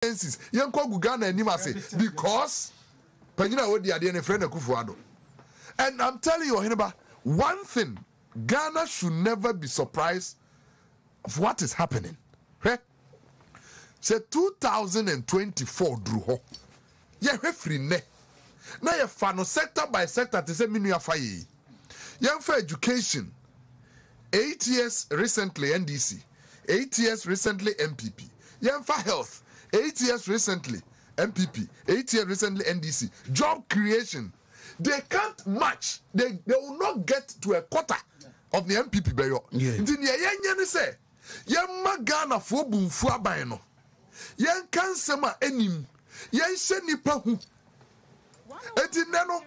Francis yɛnkɔ gu Ghana anim ase because panyin a odi adeɛ no yɛfrɛ no Akufo Addo and I'm telling you Ɔheneba one thing Ghana should never be surprised of what is happening hwɛ sɛ two thousand and twenty four duru hɔ yɛhwɛ firi nnɛ na yɛfa no sector by sector te sɛ me nua fa yɛ yi yɛmfa education eight years recently NDC. eight years recently NPP yɛnfa health eight years recently NPP eight years recently NDC job creation they can't match they they will not get to a quarter of the NPP bɛyɔ nti nea yɛnyɛ ne sɛ yɛmma Ghanafoɔ bu mfu aban no yɛnka nsɛm a ɛnim yɛnhyɛ nipa hu eti nnɛ no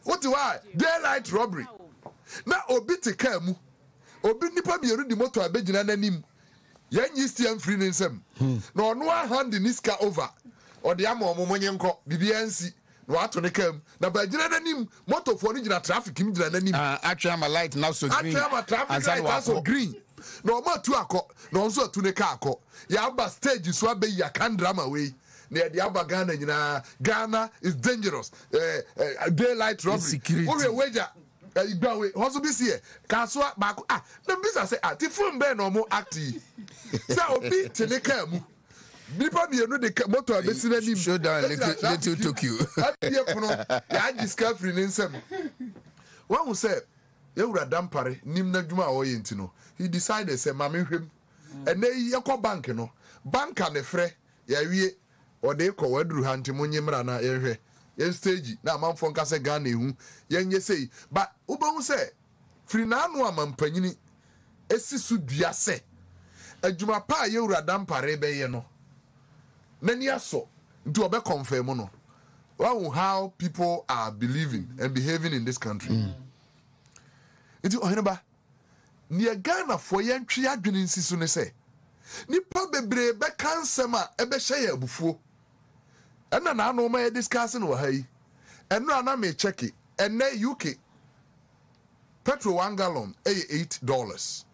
wote hɔ a daylight robbery na obi te kaa mu Obi nnipa mmienu de motor abɛgyina n'anim, yɛnnye stia mfiri ne nsam, na ɔno ara hand ne sika over, ɔde ama wɔn, monnye nkɔ, biribiara nsi, na wato ne kaa mu, na bɛagyina n'anim, motorfoɔ no gyina traffic mu gyina n'anim, atwɛn ama light no asɔ green, atwɛn ama traffic light asɔ green, na wɔn atu akɔ, na ɔno nso atu ne kaa akɔ, yɛaba stage so abɛyi Akan drama wei, na yɛde aba Ghana nyinaa, Ghana is dangerous, eh, eh, day light robbery, wohwɛ wagya. Igbawe hɔ nso bi si yɛ kasoa baako a na mibisa sɛ ah ti film bɛn na ɔmo act yi sɛ obi te ne kaa mu nipa mmienu de ka motor abesi n'anim Showdown egyina Little, Little traffic Tokyo. abie pono yagye sika afiri ne nsam wahu sɛ yawura Dampare nim n'adwuma a ɔyɛ nti no he decided sɛ ma me nhwɛ mu ɛnɛ yi yɛkɔ bank no banker ne frɛ yawie Ɔde kɔ waduru ha nti monye mmra na yɛnhwɛ yɛn stage na amanfoɔ nka sɛ Ghana ɛhu yɛn nyɛ sei but wobɛhu sɛ firi n'ano a mampanyini ɛsi so dua sɛ adwuma pa a yɛwura Dampah rebɛyɛ no n'ani asɔ nti ɔbɛ confirm no wahu how people are believing and behaving in this country nti ɔheneba Nea Ghanafoɔ yɛntwe yɛn adwene nsi so ne sɛ, nnipa bebree bɛka nsɛm a ɛbɛhyɛ yɛn abufuo. Ɛna na ano ma yɛ discuss no wɔ ha yi. Ɛnora a na me kyɛke, ɛnɛ UK petrol one gallon yɛ eight dollars,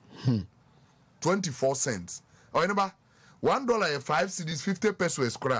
twenty four cents. Ɔhene ba, one dollar yɛ five cedis, fifty pesoes koraa.